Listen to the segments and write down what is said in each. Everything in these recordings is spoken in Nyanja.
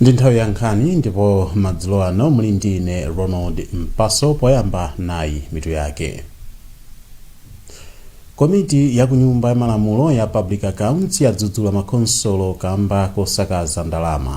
ndi nthawi ya nkhani ndipo madzulo ano muli ndi ine ronald mpaso poyamba nayi mitu yake komiti ya kunyumba ya malamulo ya public accounts yadzudzula makhonsolo kamba kosakaza ndalama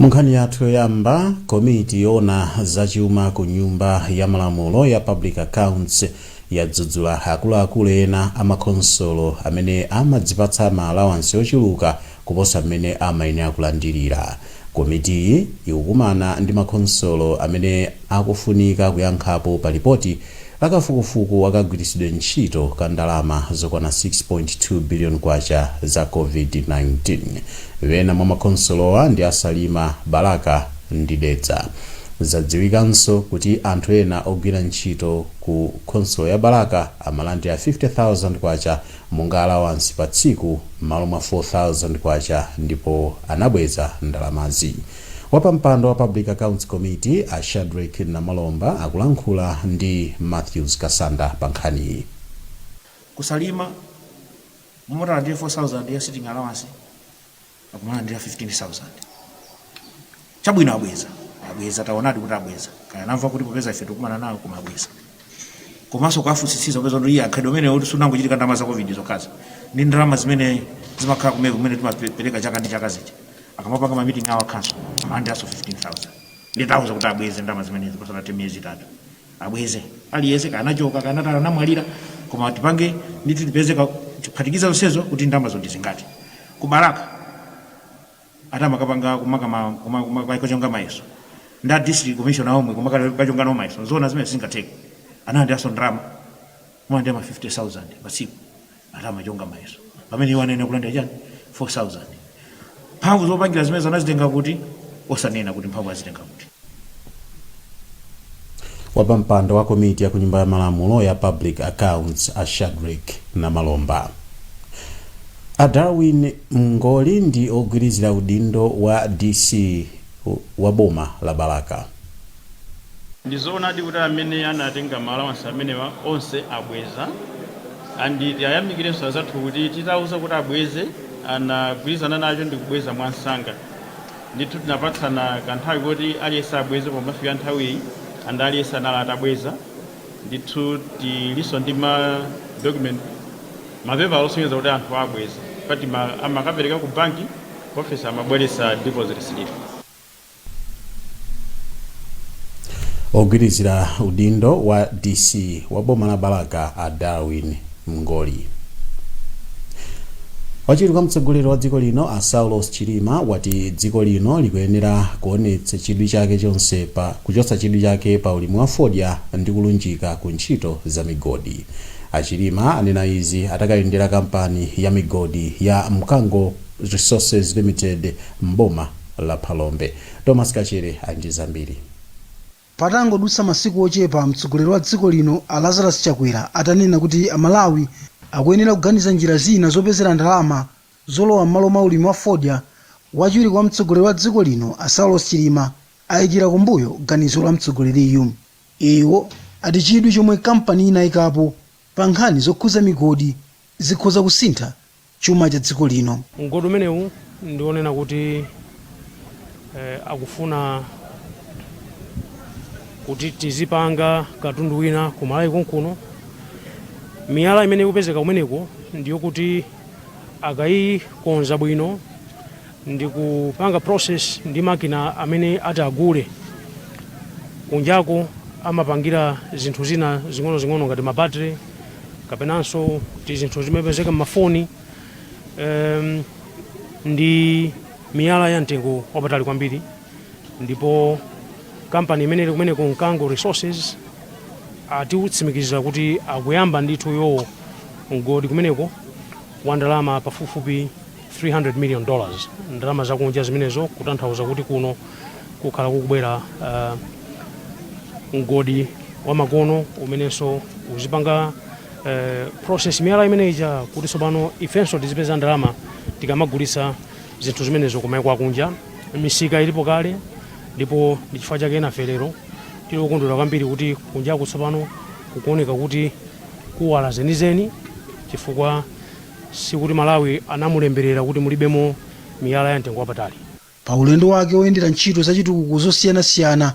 munkhani yathu yoyamba komiti yoona zachuma ku nyumba ya malamulo ya public accounts yadzudzula akuluakulu ena amakhonsolo amene amadzipatsa ma alawansi ochuluka kuposa mmene amayenera kulandirira. Komitiyi ikukumana ndi makhonsolo amene akufunika kuyankhapo pa lipoti la kafukufuku wa kagwiritsidwe ntchito ka ndalama zokwana K6.2 biliyoni za Covid-19. Ena mwa makhonsolowa ndi a Salima, Balaka ndi Dedza. Zadziwikanso kuti anthu ena ogwira ntchito ku khonsolo ya Balaka amalandira K50,000 monga alawansi pa tsiku m'malo mwa K4000 ndipo anabweza ndalamazi. Wapampando wa Public Accounts Committee a Shadreck Namalomba akulankhula ndi Mathews Kasanda pa nkhaniyi. Ku Salima, m'malo moti alandire 4000 ya sitting allowance. akumalandira 15000 chabwino abweza abweza taonadi kuti abweza kaya anamva kuti popeza ife tikumana nawo koma abweza komanso kuwafunsitsitsa popeza kuti iye mkhalidwe umenewu sunangochitika ndalama za covid zokhazo ndi ndalama zimene zimakhala kumene kumene timapereka chaka ndi chaka zija akamapanga mamiting awo a council amalandiranso 15000 nde tauza kuti abweze ndalama zimenezi pasanathe miyezi itatu abweze aliyese kaya anachoka kanatala anamwalira koma tipange ndithu tipeze ka- tiphatikiza zonsezo kuti ndalamazo ndizingati ku balaka ati amakapanga kumakachonga mayeso ndi a district commissioner omwe kumakachonga nawo mayeso zoona zimenezi zingatheke analandiranso ndalama amalandira ma 50000 patsiku Ati amachonga mayeso pamene iwo anayenera kulandira chani? 4,000. Mphamvu zopangira zimenezo anazitenga kuti? Osanena kuti mphamvu azitenga kuti. Wapampando wa komiti ya kunyumba ya malamulo ya Public Accounts, a Shadric Namalomba, a Darwin Mngoli ndi ogwirizira udindo wa DC wa boma la Balaka, Ndi zoonadi kuti amene anatenga ma allowance amenewa onse abweza and tiayamikirenso azathu kuti titauza kuti abweze anagwirizana nacho ndikubweza mwamsanga ndithu tinapatsana kanthawi koti aliyense abweze pomafika nthawiyi and aliyense anali atabweza ndithu tilinso ndi ma document mapepala osonyeza kuti anthu abweza poti amakapereka ku banki ku office amabweretsa deposit slip. Ogwirizira udindo wa DC wa boma la Balaka a Darwin Mngoli. Wachiwiri kwa mtsogoleri wa dziko lino a Saulos Chilima wati dziko lino likuyenera kuchotsa chidwi chake pa ulimi wa fodya ndi kulunjika ku ntchito za migodi. A Chilima anena izi atakayendera kampani ya migodi ya Mkango Resources Limited m'boma la Phalombe. Thomas Kachere ali ndi zambiri. Patangodutsa masiku ochepa mtsogoleri wa dziko lino a Lazarus Chakwera atanena kuti Amalawi akuyenera kuganiza njira zina zopezera ndalama zolowa m'malo mwa ulimi wa fodya, wachiwiri kwa mtsogoleri wa dziko lino a Saulos Chilima ayikira kumbuyo ganizo la mtsogoleriyu. Iwo ati chidwi chomwe kampani inayikapo pa nkhani zokhuza migodi zikhoza kusintha chuma cha dziko lino. Mgodi umenewu ndi onena kuti akufuna kuti tizipanga katundu wina ku Malawi konkuno. Miyala imene ikupezeka kumeneko ndiyokuti akayikonza bwino ndikupanga process ndi makina amene ati agule kunjako amapangira zinthu zina zing'onozing'ono ngati ma battery kapenanso tizinthu timene timapezeka m'mafoni um, ndi miyala ya mtengo wapatali kwambiri ndipo kampani imene ili kumeneko Mkango Resources atitsimikizira kuti akuyamba ndithu yowo mgodi kumeneko wa ndalama pafupifupi 300 million dollars ndalama zakunja zimenezo kutanthauza kuti kuno kukhala kukubwera uh, mgodi wamakono umenenso uzipanga uh, process miyala imene ija kuti tsopano ifenso tizipeza ndalama tikamagulitsa zinthu zimenezo kumaiko akunja misika ilipo kale ndipo ndi chifukwa chake nafe lero tili okondwera kwambiri kuti kunjaku tsopano kukuoneka kuti kuwala zenizeni chifukwa Sikuti Malawi anamulemberera kuti mulibemo miyala ya mtengo wapatali. Pa ulendo wake oyendera ntchito za chitukuko zosiyanasiyana,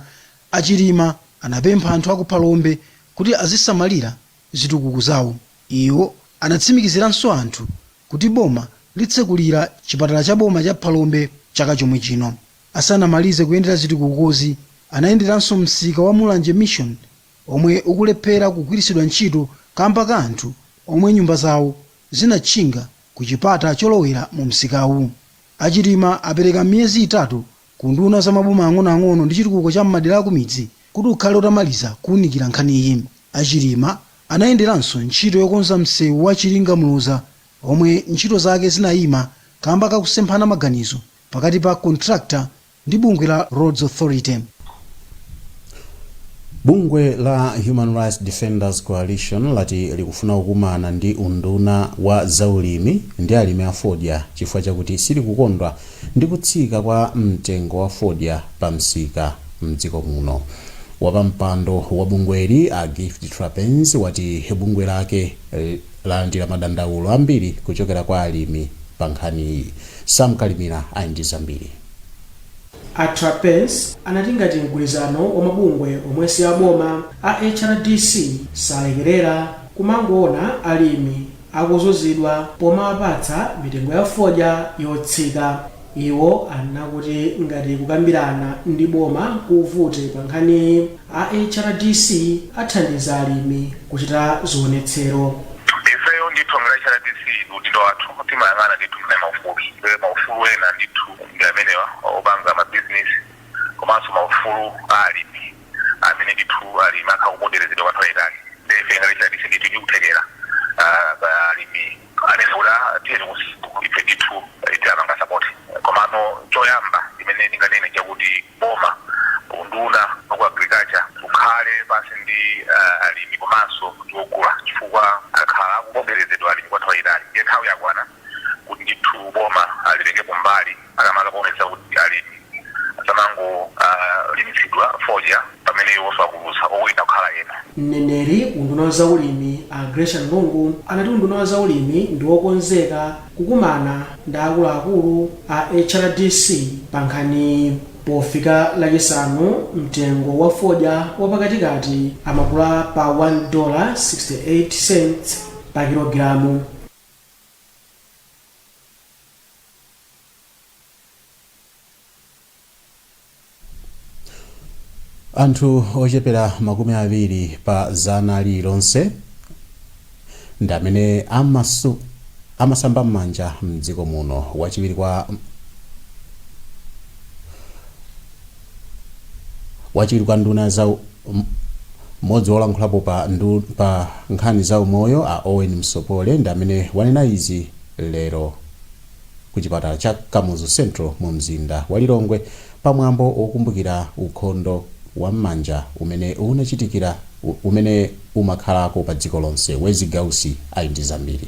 a Chilima anapempha anthu aku Phalombe kuti azisamalira zitukuko zawo. Iwo anatsimikiziranso anthu kuti boma litsekulira chipatala cha boma cha Phalombe chaka chomwe chino. Asanamalize kuyendera zitukukozi, anayenderanso msika wa Mulanje Mission omwe ukulephera kugwiritsidwa ntchito kamba ka anthu omwe nyumba zawo zinatchinga ku chipata cholowera mu msikawu. A Chilima apereka miyezi itatu ku unduna wa maboma ang'onoang'ono ndi chitukuko cha m'madera akumidzi kuti ukhale utamaliza kuunikira nkhaniyi. A Chilima anayenderanso ntchito yokonza msewu wa Chiringa-Muloza omwe ntchito zake zinayima kamba ka kusemphana maganizo pakati pa contractor ndi bungwe la Roads Authority. Bungwe la Human Rights Defenders Coalition lati likufuna kukumana ndi unduna wa zaulimi ndi alimi a fodya chifukwa chakuti silikukondwa ndi kutsika kwa mtengo wa fodya pa msika mdziko muno. Wapampando wa bungweli a Gift Trapence wati bungwe lake lalandira madandaulo ambiri kuchokera kwa alimi pa nkhaniyi. Sam Kalimira ali ndi zambiri. A Trapence anati ngati mgwirizano wa mabungwe omwe si aboma a HRDC salekerera, kumangoona alimi akuzunzidwa pomawapatsa mitengo ya fodya yotsika. Iwo anena kuti ngati kukambirana ndi boma kuvute pankhaniyi, A HRDC athandiza alimi kuchita zionetsero. Ifeyo ndithu ngati a HRDC ndi udindo wathu, timayang'ana ndithu mwina maufulu, maufulu ena ndithu ndi amenewa opanga mabizinesi komanso maufulu a alimi amene ndithu alimi akhala akuponderezedwa kwa nthawi yaitali. Ndiye ife ngati HRDC ndithu tili ndi kuthekera alimi. Anevura tiyeni kusiku ife ndithu tiapanga support komano choyamba chimene ndinganene nchakuti boma unduna waku agriculture ukhale pansi ndi alimi komanso ndi ogula chifukwa akhala akuponderezedwa alimi kwanthawi yayitali ndiye nthawi yakwana kuti ndithu boma litengepo mbali. Makamaka kuonetsa kuti alimi asamangolimitsidwa fodya pamene iwonso akuluza owina kukhala ena. Mneneri ku unduna wa za ulimi a Gracian Lungu anati unduna wa za ulimi ndi wokonzeka kukumana ndi akuluakulu a HRDC pa nkhaniyi. Pofika lachisanu mtengo wa fodya wa pakati kati amagula pa 1 dollar 68 cents pa kilogilamu. anthu ochepera makumi awiri pa zana lililonse ndi amene amasu amasamba m'manja mdziko muno wachiwiri kwa Wachiwiri kwa nduna ya za u- m- mmodzi wolankhulapo pa, ndu, pa nkhani za umoyo a Owen Msopole ndi amene wanena izi lero ku chipatala cha Kamuzu Central mu mzinda wa Lilongwe pa mwambo wokumbukira ukhondo wa m'manja umene unachitikira u- umene umakhalako pa dziko lonse. Wezi Gausi ali ndi zambiri.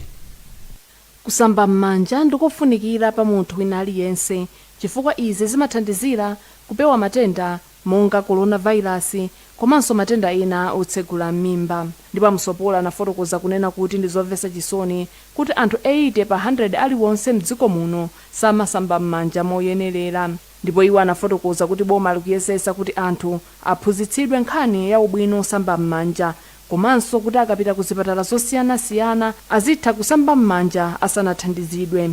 Kusamba m'manja ndikofunikira pa munthu wina aliyense chifukwa izi zimathandizira kupewa matenda monga coronavirus komanso matenda ena otsegula m'mimba. Ndipo a Msopola anafotokoza kunena kuti ndi zomvetsa chisoni kuti anthu 80 pa 100 aliwonse m'dziko muno samasamba m'manja moyenerera ndipo iwo anafotokoza kuti boma likuyesetsa kuti anthu aphunzitsidwe nkhani ya ubwino osamba m'manja komanso kuti akapita ku zipatala zosiyanasiyana azitha kusamba m'manja asanathandizidwe.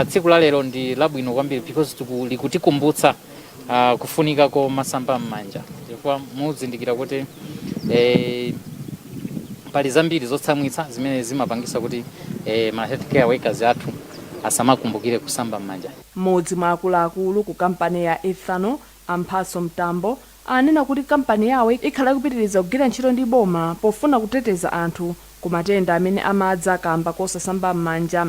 Tsiku la lero ndi labwino kwambiri because likutikumbutsa kufunika komasamba m'manja chifukwa muzindikira kuti pali zambiri zotsamwitsa zimene zimapangitsa kuti ma health care workers athu asamakumbukire kusamba m'manja. M'modzi mwa akuluakulu ku kampani ya Ethanol, a Mphatso Mtambo, anena kuti kampani yawo ikhala ikupitiriza kugwira ntchito ndi boma pofuna kuteteza anthu ku matenda amene amadza kaamba kosasamba m'manja.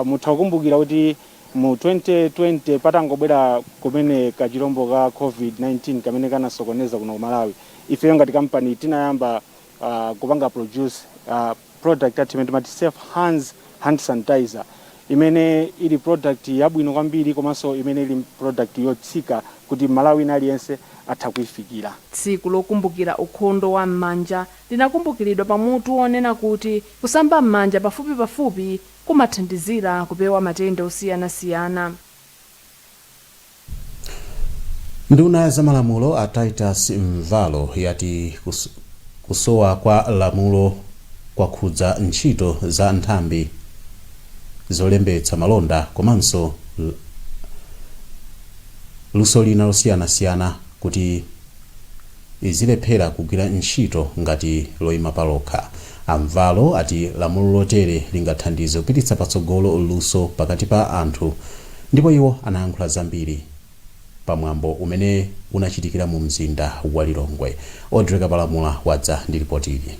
Mutha kukumbukira kuti mu 2020 patangobwera kumene kachilombo ka Covid-19 kamene kanasokoneza kuno ku Malawi, ifeyo ngati kampani tinayamba. uh, kupanga produce uh, product yathu imene timati safe hands hand sanitizer imene ili product yabwino kwambiri komanso imene ili product yotsika kuti Mmalawi wina aliyense atha kuifikira Tsiku lokumbukira ukhondo wa m'manja linakumbukiridwa pa mutu wonena kuti Kusamba m'manja pafupipafupi kumathandizira kupewa matenda osiyanasiyana. Nduna ya zamalamulo a Titus Mvalo yati kusowa kwa lamulo kwakhudza ntchito za nthambi zolembetsa malonda komanso luso lina losiyanasiyana kuti. izilephera kugwira ntchito ngati loyima palokha. A Mvalo ati lamulo lotere lingathandize kupititsa patsogolo luso pakati pa anthu ndipo iwo anayankhula zambiri pa mwambo umene unachitikira mu mzinda wa Lilongwe. Audrey Kapalamula wadza ndi lipoti ili.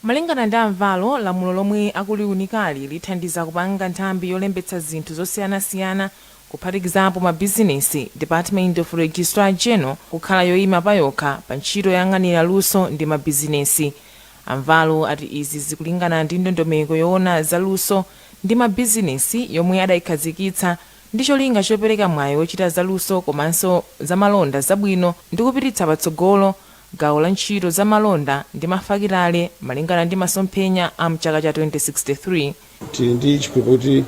Malingana ndi a Mvalo, lamulo lomwe akuliunikali lithandiza kupanga nthambi yolembetsa zinthu zosiyanasiyana kuphatikizapo mabizinesi, Department of Registrar General kukhala yoyima payokha pa ntchito yoyang'anira luso ndi mabizinesi. A Mvalo ati izi zikulingana ndi ndondomeko yoona za luso ndi mabizinesi yomwe adayikhazikitsa ndi cholinga chopereka mwayi wochita za luso komanso za malonda zabwino ndi kupititsa patsogolo gawo la ntchito za malonda ndi mafakitale malingana ndi masomphenya a mchaka cha 2063. tili ndi chikhulupiriro kuti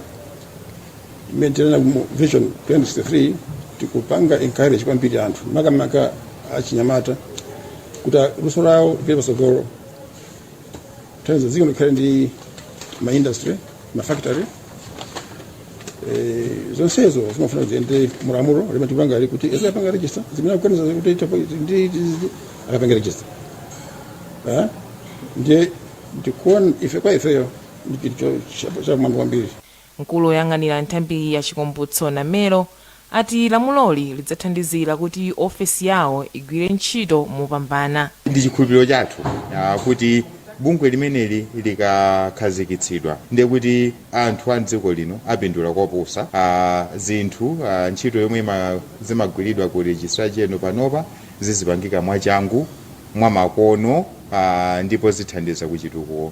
mmene tinena mu vision 2063 tikupanga encourage kwambiri anthu makamaka achinyamata kuti luso lawo lipite patsogolo tanzo dziko likhale ndi ma industry ma factory eh, zonsezo zimafuna ziende mulamulo limene tikupanga ali kuti eza apanga register zimene akuganiza kuti tapo- ndi- ndi- ndi- akapanga register Ah? ndiye ndikuona ife kwa ifeyo ndi chinthu chapamwamba kwambiri. Mkulu oyang'anira nthambiyi a Chikumbutso Namelo ati lamuloli lidzathandizira kuti ofesi yawo igwire ntchito mopambana. Ndi chikhulupiliro chathu kuti bungwe limeneli likakhazikitsidwa ndiye kuti anthu a m'dziko lino apindula koposa. Zinthu, ntchito yomwe zimagwiridwa ku Registrar General panopa zizipangika mwachangu, mwamakono ndipo zithandiza ku chitukuko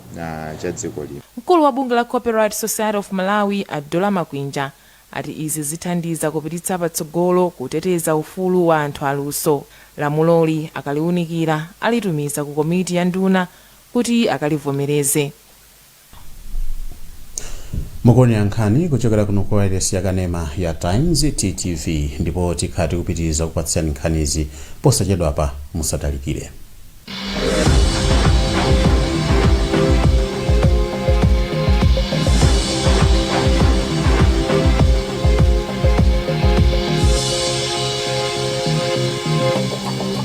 cha dziko lino. Mkulu wa bungwe la Copyright Society of Malawi a Dora Makwinja ati izi zithandiza kupititsa patsogolo kuteteza ufulu wa anthu aluso. Lamuloli akaliunikira alitumiza ku komiti ya nduna kuti akalivomereze. mukuonera nkhani kuchokera kuno ku wailesi ya kanema ya times ttv ndipo tikhala tikupitiriza kupatsirani nkhanizi posachedwapa musatalikire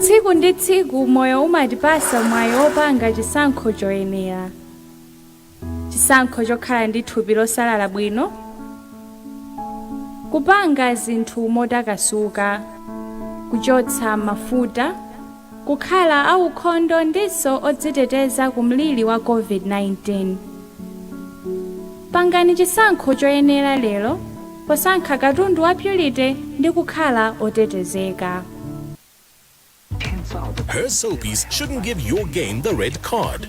tsiku ndi tsiku moyo umatipasa mwayi wopanga chisankho choyenera chisankho chokhala ndi thupi losalala bwino kupanga zinthu motakasuka kuchotsa mafuta kukhala aukhondo ndinso odziteteza ku mliri wa COVID-19. Pangani chisankho choyenera lero posankha katundu wa Purity ndi kukhala otetezeka. Her soapies shouldn't give your game the red card.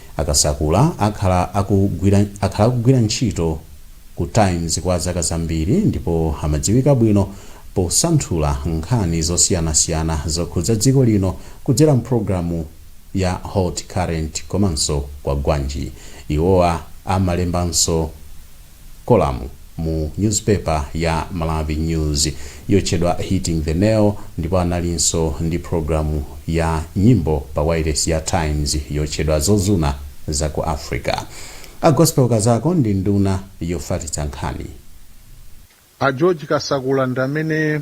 A Kasakula akhala akugwira ntchito ku Times kwa zaka zambiri ndipo amadziwika bwino posanthula nkhani zosiyanasiyana zokhudza dziko lino kudzera mpulogalamu ya Hot Current komanso Kwagwanji. Iwowa amalembanso. kolamu mu nyuzipepa ya Malawi News yotchedwa Hitting the Nail ndipo analinso ndi pulogalamu ya nyimbo pa wailesi ya Times yotchedwa Zozuna za ku Africa. A Gospel Kazako ndi nduna yofatitsa nkhani. A George Kasakula ndi amene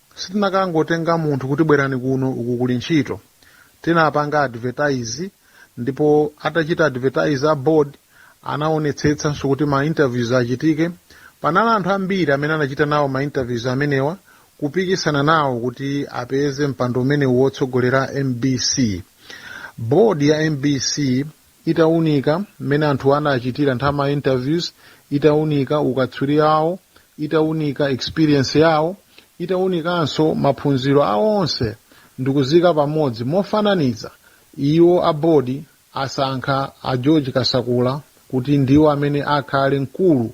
Sitinakangotenga munthu kuti bwerani kuno uku kuli ntchito. Tinapanga advertise ndipo atachita advertise a board anaonetsetsanso kuti ma interviews achitike. Panali anthu ambiri amene anachita nawo ma interviews amenewa kupikisana nawo kuti apeze mpando umenewu wotsogolera mbc. Board ya mbc itaunika mmene anthuwa anachitira nthawi ma interviews, itaunika ukatswiri awo, itaunika experience yawo, itaunikanso maphunziro a onse ndikuziika pamodzi mofananiza, iwo a board asankha a George Kasakula kuti ndiwo amene akhale mkulu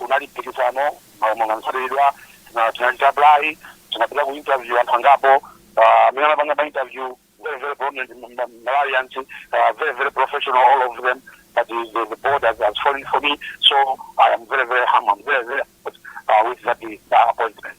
Unali mpikisano monga mukudziwa tinachita apply tinapita ku interview anthu angapo amene anapanga ma interview very very prominent Malawians very very professional all of them but the the board has, has fallen for me so I am very very humbled very very with that appointment.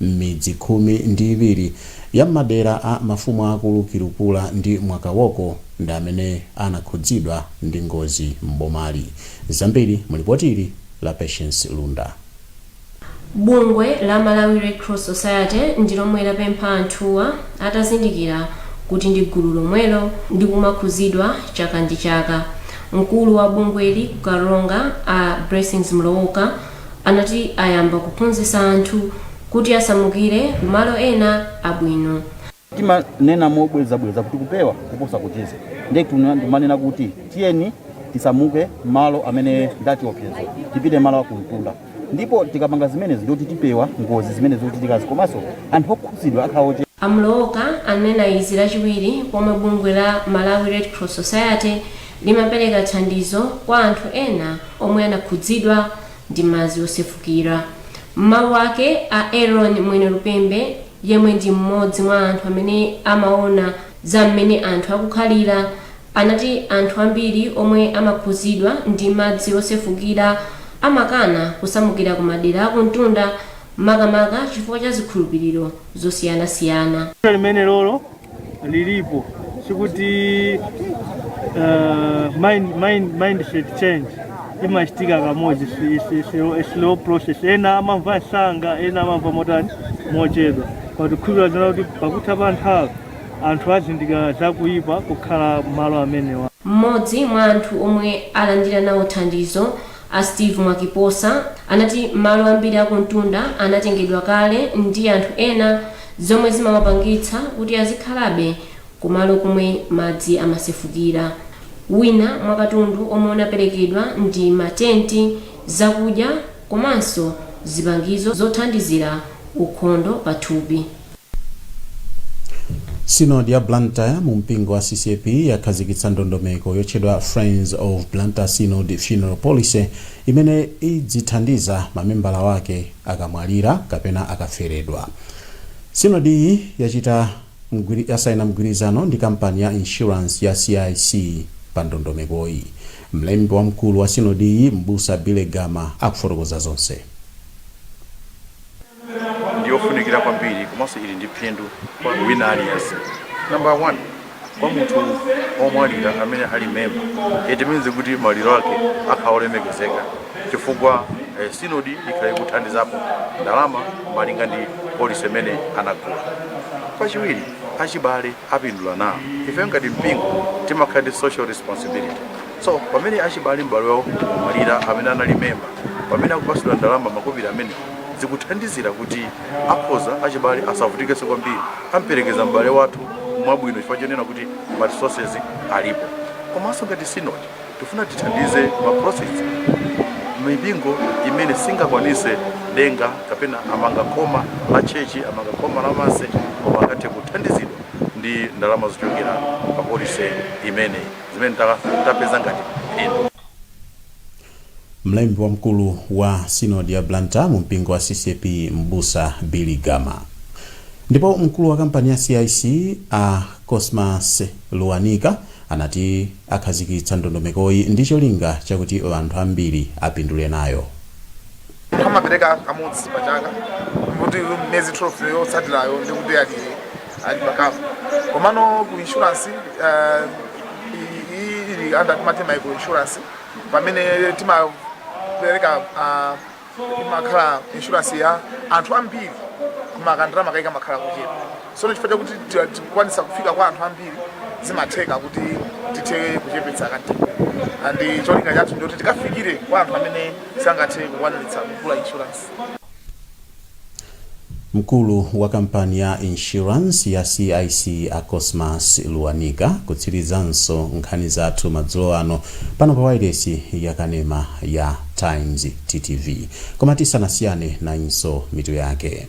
M'midzi khumi ndi iwiri ya m'madera a mafumu aakulu Kilupula ndi Mwakaboko ndi amene anakhudzidwa ndi ngozi m'bomali. Zambiri mu lipoti ili la Patience Lunda. Bungwe la Malawi Red Cross Society ndi lomwe lapempha anthuwa atazindikira kuti ndi gulu lomwelo ndi kumakhuzidwa chaka ndi chaka. Mkulu wa bungweli ku Karonga a Blessings Mlowoka, anati ayamba kuphunzitsa anthu kuti asamukire kumalo ena abwino. Timanena mobwerezabwereza kuti kupewa kuposa kuchiza. Ndiye timanena kuti tiyeni tisamuke malo amene ndi achiopsezo, tipite malo a kumtunda ndipo tikapanga zimenezi ndiye kuti tipewa ngozi zimene zikuchitikazi komanso anthu okhudzidwa akhala ochepa. A Mlowoka anena izi Lachiwiri pomwe bungwe la Malawi Red Cross Society Limapereka thandizo kwa anthu ena omwe anakhudzidwa ndi madzi osefukira. M'mawu ake, a Aaron Mwenelupembe yemwe ndi m'modzi mwa anthu amene amaona za m'mene anthu akukhalira anati anthu ambiri omwe amakhuzidwa ndi madzi osefukira amakana kusamukira ku madera akumtunda makamaka chifukwa cha zikhulupiriro zosiyanasiyana. Vuto limenelolo lilipo sikuti uh, mind, mind, mindset change imachitika kamodzi si- si- si- it's a slow process ena amamva msanga ena amamva motani mochedwa koma tikhulupirira zoona kuti pakutha pa nthawi anthu azindikira zakuyipa kukhala malo amenewa mmodzi mwa anthu omwe alandira nawo thandizo A Steve Mwakiposa anati malo ambiri a kumtunda anatengedwa kale ndi anthu ena zomwe zimawapangitsa kuti azikhalabe ku malo komwe madzi amasefukira. Wina mwa katundu omwe unaperekedwa ndi ma tenti, zakudya komanso zipangizo zothandizira ukhondo pa thupi. sinodi ya blantyre mu mpingo wa ccap yakhazikitsa ndondomeko yotchedwa friends of blantyre synod funeral policy imene idzithandiza mamembala wake akamwalira kapena akaferedwa sinodiyi yasaina mgwirizano ndi kampani ya insurance ya cic pa ndondomekoyi mlembi wamkulu wa sinodiyi m'busa billy gama akufotokoza zonse ndiyofunikira kwambiri komanso ili ndi phindu kwa wina aliyense number one kwa munthu omwalira amene ali memba it means kuti maliro ake akhala olemekezeka chifukwa eh, sinodi ikhala ikuthandizapo ndalama malinga ndi polisi imene anagula pachiwiri achibale apindula nawo ife ngati mpingo timakhala ndi social responsibility So pamene achibale m'bale wawo wamwalira amene anali memba pamene akupasidwa ndalama makobiri amenewa zikuthandizira kuti akhoza achibale asavutikenso kwambiri amperekeza m'bale wathu mwabwino chifukwa chonena kuti ma resources alipo komanso ngati synod tifuna tithandize ma process mipingo imene singakwanise denga kapena amanga khoma la tchetchi amanga khoma la manse koma akathe kuthandizidwa ndi ndalama zochokera pa polisi imeneyi zimene tapeza ngati phindu mlembi wamkulu wa sinodi ya blantyre mu mpingo wa ccap mbusa billy gama ndipo mkulu wa kampani ya cic a cosmas luwanika anati akhazikitsa ndondomekoyi ndi cholinga chakuti anthu ambiri apindule nayo amapereka kamodzi pa chaka kuti miyezi 12 yotsatirayo ndi kuti ali ali pa cover komano ku insurance eh, i- i- ili under timati micro insurance pamene timapereka ah, imakhala insurance ya anthu ambiri koma kandira makaika makhala kuchepa so chifukwa chakuti ti- tikukwanisa kufika kwa anthu ambiri zimatheka kuti tithe kuchepetsa kanthu and cholinga chathu ndikuti tikafikire kwa anthu amene sangathe kukwaniritsa kugula insurance. Mkulu wa kampani ya insurance ya CIC a Cosmas Luanika kutsirizanso nkhani zathu madzulo ano pano pa wailesi ya kanema ya Times TTV. Koma tisanasiyane nayinso mitu yake.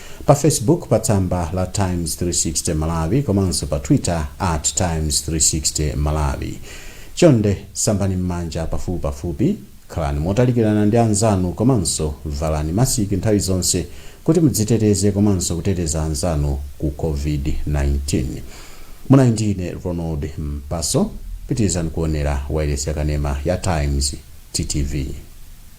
Pa Facebook pa tsamba la Times 360 Malawi komanso pa Twitter at Times 360 Malawi. Chonde sambani mmanja pafupipafupi, khalani motalikirana ndi anzanu komanso valani masiki nthawi zonse kuti mudziteteze komanso kuteteza anzanu ku COVID-19. Munali ndi ine Ronald Mpaso. Pitirizani kuonera wailesi yakanema ya Times, TTV.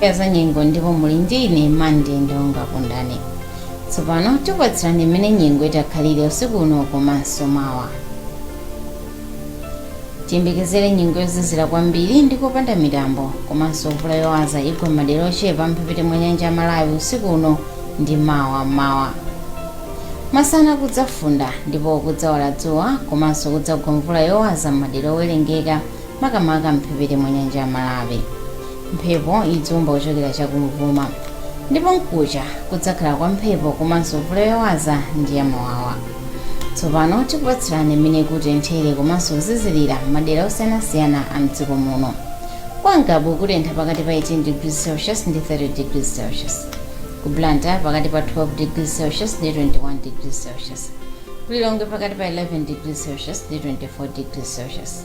ya zanyengo ndipo muli ndi ine mande ndonga kundani tsopano tikupatsirani mmene nyengo itakhalire usiku uno komanso mawa tiyembekezere nyengo yozizira kwambiri ndi yopanda mitambo komanso mvula yowaza igwa mmadera ochepa a mphepete mwa nyanja ya malawi usiku uno ndi mawa mmawa masana kudzafunda ndipo kudzawala dzuwa komanso kudzagwa mvula yowaza mmadera owerengeka makamaka m'mphepete mwa nyanja ya Malawi. Mphepo idzaomba kuchokera cha kumvuma ndipo mkuja kudzakhala kwa mphepo komanso mvula yowaza ndi yamawawa. Tsopano tikupatsirani mmene kutenthere komanso kuzizirira m'madera osiyanasiyana a m'dziko muno. Kwa Ngabu kutentha pakati pa 18 degrees Celsius ndi 30 degrees Celsius. Ku Blantyre pakati pa 12 degrees Celsius ndi 21 degrees Celsius. Ku Lilongwe pakati pa 11 degrees Celsius ndi 24 degrees Celsius.